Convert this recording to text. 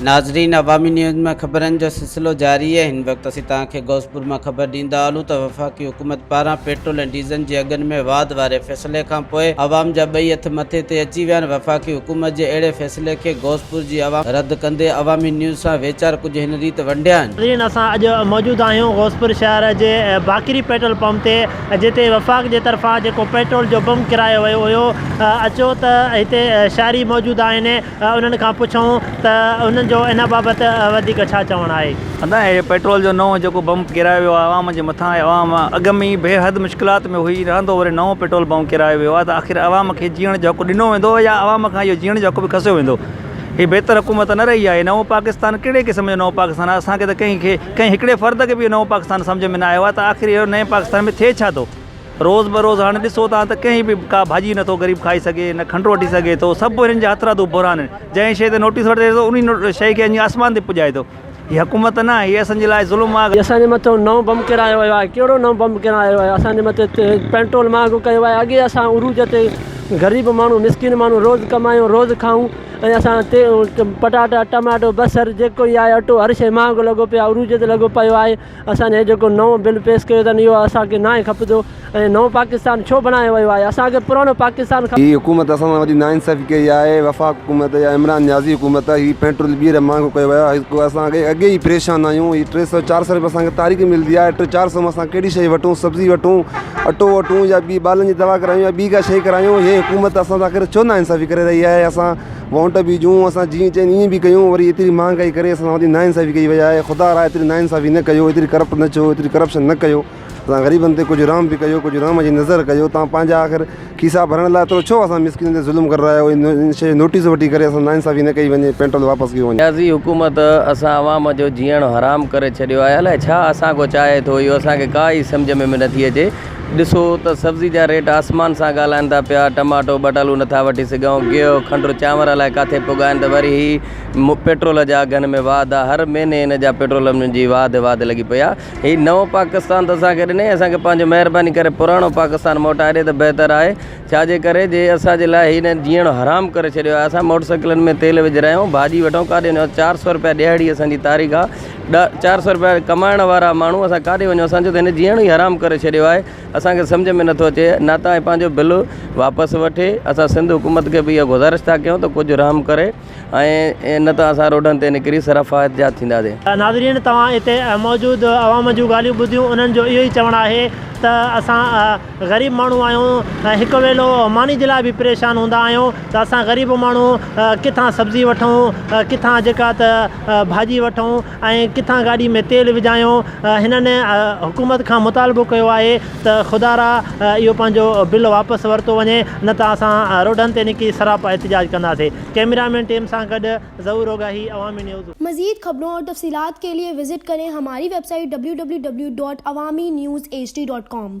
ناظرين عوامي نيوز مان خبرن جو سلسلو جاري آهي هن وقت اسين توهان کي غوثپور مان خبر ڏيندا هلون ته وفاقي حڪومت پاران پيٽرول ۽ ڊيزل جي اگهن ۾ واڌ واري فيصلي کانپوء عوام جا ٻئي هٿ مٿي تي اچي ويا آهن وفاقي حڪومت جي اهڙي فيصلي مسئلي کي غوثپور جي عوام رد ڪندي عوامي نيوز سان ويچار ڪجهه هن ريت ونڊيا آهن. ناظرين اسان اڄ موجود آهيون غوثپور شهر جي باقري پيٽرول پمپ تي جتي وفاق جي طرفان جيڪو پيٽرول جو بم ڪرايو ويو هيو اچو ته هتي شهري موجود آهن انهن کان پڇون ته انهن جو ان بابت وڌيڪ ڇا چوڻ آهي. ادا هي پيٽرول جو نئون جيڪو بمپ ڪيرايو ويو آهي عوام جي مٿان ۽ عوام اڳ ۾ ئي بيحد مشڪلات ۾ هئي رهندو وري نئون پيٽرول بمپ ڪيرايو ويو آهي ته آخر عوام کي جيئڻ جو حق ڏنو ويندو يا عوام کان اهو جيئڻ جو حق به کسيو ويندو هي بهتر حڪومت نه رهي آهي نئون پاڪستان ڪهڙي قسم جو نئون پاڪستان آهي اسان کي ته ڪنهن کي ڪنهن هڪڙي فرد کي به نئون پاڪستان سمجهه ۾ نه آيو آهي ته آخر اهو نئين پاڪستان ۾ ٿئي ڇا ٿو روز بروز هاڻي ڏسو تان ته ڪنهن به ڪا ڀاڄي نه ٿو غريب کائي سگهي نه کنڊ وٺي سگهي ٿو سڀ هنن جا هٿرادو بحران آهن جنهن شئي تي نوٽيس وٺي ته انهي شئي کي آسمان تي پڄائي ٿو هي حڪومت نه، هي اسان جي لاء ظلم آ. اسان جي مٿو نئون بم ڪيرايو ويو آهي ڪهڙو نئون بم ڪيرايو ويو آهي اسان جي مٿي پينٽرول مهانگو ڪيو ويو آهي اڳي اسان عروج تي غريب ماڻهو مسڪين ماڻهو روز ڪمايون روز کائون ۽ اسان تي پٽاٽا ٽماٽو بصر جيڪو هي آهي اٽو هر شي مهانگو لڳو پيو آهي عروج تي لڳو پيو آهي اسان هي جيڪو نئون بل پيس ڪيو اٿن اهو اسان کي ناهي کپندو ۽ نئون پاڪستان ڇو بڻايو ويو آهي اسان کي پراڻو پاڪستان کپي. هي حڪومت اسان سان وڏي ناانصافي ڪئي آهي وفاق حڪومت يا عمران نيازي حڪومت هي پيٽرول ٻيهر مهانگو ڪيو ويو آهي جيڪو اسان کي اڳي ئي پريشان آهيون هي ٽي سئو چار سئو رپيا اسان کي تاريخ ملندي آهي ٽي چار سئو ۾ اسان ڪهڙي شئي وٺون سبزي وٺون اٽو وٺون يا ٻي ٻالن جي دوا ڪرايون يا ٻي ڪا شئي ڪرايون هي حڪومت اسان سان آخر ڇو ناانصافي ڪري رهي آهي اسان وونٽ به جون اسان جيئن چين ايئن به ڪيون وري ايتري مهانگائي ڪري اسان سان وڌيڪ نا انصافي ڪئي وئي آهي خدا را ايتري نا انصافي نه ڪيو ايتري ڪرپٽ نه ٿيو ايتري ڪرپشن نه ڪيو اسان غريبن تي ڪجهه رحم به ڪيو ڪجهه رحم جي نظر ڪيو تان پنهنجا آخر کيسا ڀرڻ لاء ايترو ڇو اسان مسڪينن تي ظلم ڪري رهيا آهيو ان شي نوٽيس وٺي ڪري اسان سان نا انصافي نه ڪئي وڃي پينٽرول واپس ڪيو وڃي. رياضي حڪومت اسان عوام جو جيئڻ حرام ڪري ڇڏيو آهي الائي ڇا اسان کان چاهي ٿو اهو اسان کي ڪا ئي سمجهه ۾ به نٿي اچي ڏسو ته سبزي جا ريٽ آسمان سان ڳالهائن ٿا پيا، ٽماٽو ٻٽالو نٿا وٺي سگهون، گيهه، کنڊ، چانور الائي ڪاٿي پڳا آهن ته وري هي پيٽرول جا اگهن ۾ واڌ آ، هر مهيني هن جا پيٽرولن جي واڌ واڌ لڳي پئي آ، هي نئون پاڪستان ته اسان کي ڏني اسان کي پنهنجو مهرباني ڪري پراڻو پاڪستان موٽائي ڏي ته بهتر آهي، ڇا جي ڪري جي اسان جي لاء هن جيئڻ حرام ڪري ڇڏيو آهي، اسان موٽرسائيڪلن ۾ تيل وجهرايون، ڀاڄي وٺون ڪاڏي وڃون، چار سؤ رپيا ڏهاڙي اسان جي تاريخ آ. ڏا چار سئو روپيا ڪمائڻ وارا ماڻهو اسان ڪاڏي وڃون اسان جو ته هن جيئڻو ئي حرام ڪري ڇڏيو آهي اسانکي سمجهه ۾ نٿو اچي نه ته هي پنهنجو بل واپس وٺي اسان سنڌ حڪومت کي به اها گذارش ٿا ڪيون ته ڪجهه رحم ڪري ۽ نه ته اسان روڊن تي نڪري سرا فائت جا ٿينداسين. ناظرين توهان هتي موجود عوام جون ڳالهيون ٻڌيون انهن جو اهو ئي چوڻ آهي ته اسان غريب ماڻهو آهيون ۽ هڪ ويلو ماني جي لاء به پريشان هوندا آهيون ته اسان غريب ماڻهو ڪٿان سبزي وٺون ڪٿان جيڪا ته ڀاڄي وٺون ۽ ڪٿان گاڏي ۾ تيل وجهايون هنن حڪومت کان مطالبو ڪيو آهي ته خدا را اهو پنهنجو بل واپس ورتو وڃي نه ته اسان روڊن تي نڪري سراپا احتجاج ڪنداسي ڪئميرا مين ٽيم سان گڏ ظهور اوگاهي عوامي نيوز. مزيد خبرون اور تفصيلات کے لئے وزٹ کریں ہماری ویب سائٹ www.awaminews hd.com.